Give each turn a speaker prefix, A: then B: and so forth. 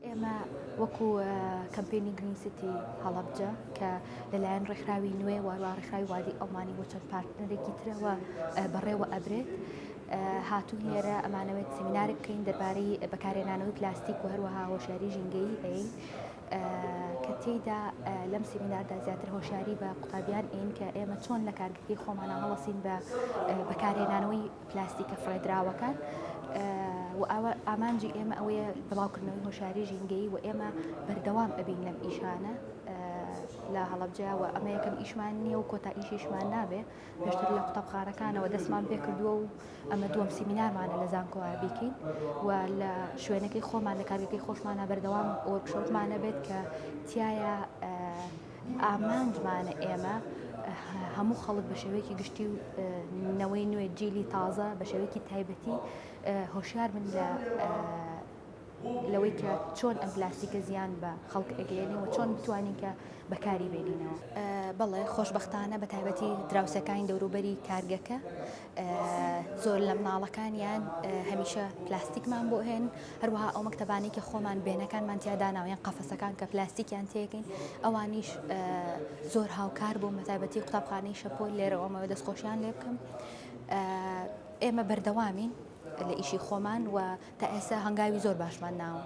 A: ئێمە وەکو کەمپینی گرین سیتی هەڵەبجە کە لەلایەن ڕێکخراوی نوێ واروا ڕێکخراوی وادی ئەڵمانی بۆ چەند پارتنەرێکی ترەوە بەڕێوە ئەبرێت. هاتون لێرە ئەمانەوێت سمینارە بکەین دەربارەی بەکارێنانەوەی پلاستیک و هەروەها هۆشیاری ژینگەی ئەین کە تێیدا لەم سیمیناردا زیاتر هۆشیاری بە قوتابیان ئین کە ئێمە چۆن لە کارگردی خۆمانە هەڵەسین بە بەکارهێنانەوەی پلاستیکە فڕێدراوەکان و ئەوە ئامانجی ئێمە ئەوەیە بڵاوکردنەوەی هۆشاری ژینگەی و ئێمە بەردەوام ئەبین لەم ئیشانە لە هەڵبجاوە ئەمە یەکەم ئیشمان نییە و کۆتا ئیشیشمان نابێ. پێشتر لە قوتابخانەکانەوە دەستمان پێ کردووە و ئەمە دووەم سیمینارمانە لە زانکۆ ئابیکین و لە شوێنەکەی خۆمان لە کارگەکەی خۆشمانە بەردەوام وەرکشۆپمانە بێت کە تایە ئامانجمانە ئێمە هەموو خەڵک بە شێوەیەکی گشتی و نەوەی نوێ جیلی تازە بە شێوەیەکی تایبەتی هۆشیار من لە لەوەی کە چۆن ئەم پلاستیکە زیان بە خەڵک ئەگەیەنێ و چۆن بتوانین کە بەکاری بێنینەوە. بەڵێ خۆشبەختانە بە تایبەتی دراوسێکانی دەوروبەری کارگەکە زۆر لە مناڵەکانیان هەمیشە پلاستیکمان بۆ هێن هەروەها ئەو مەکتەبانی کە خۆمان بێنەکانمان تیاداناو یان قەفەسەکان کە پلاستیکیان تێکەین ئەوانیش زۆر هاوکار بوو مەتابەتی قوتابخانەی شەپۆل لێرەوەمەوە دەستخۆشیان لێ بکەم ئێمە بەردەوامین لە ئیشی خۆمان و تا ئێستا هەنگاوی زۆر باشمان ناوە.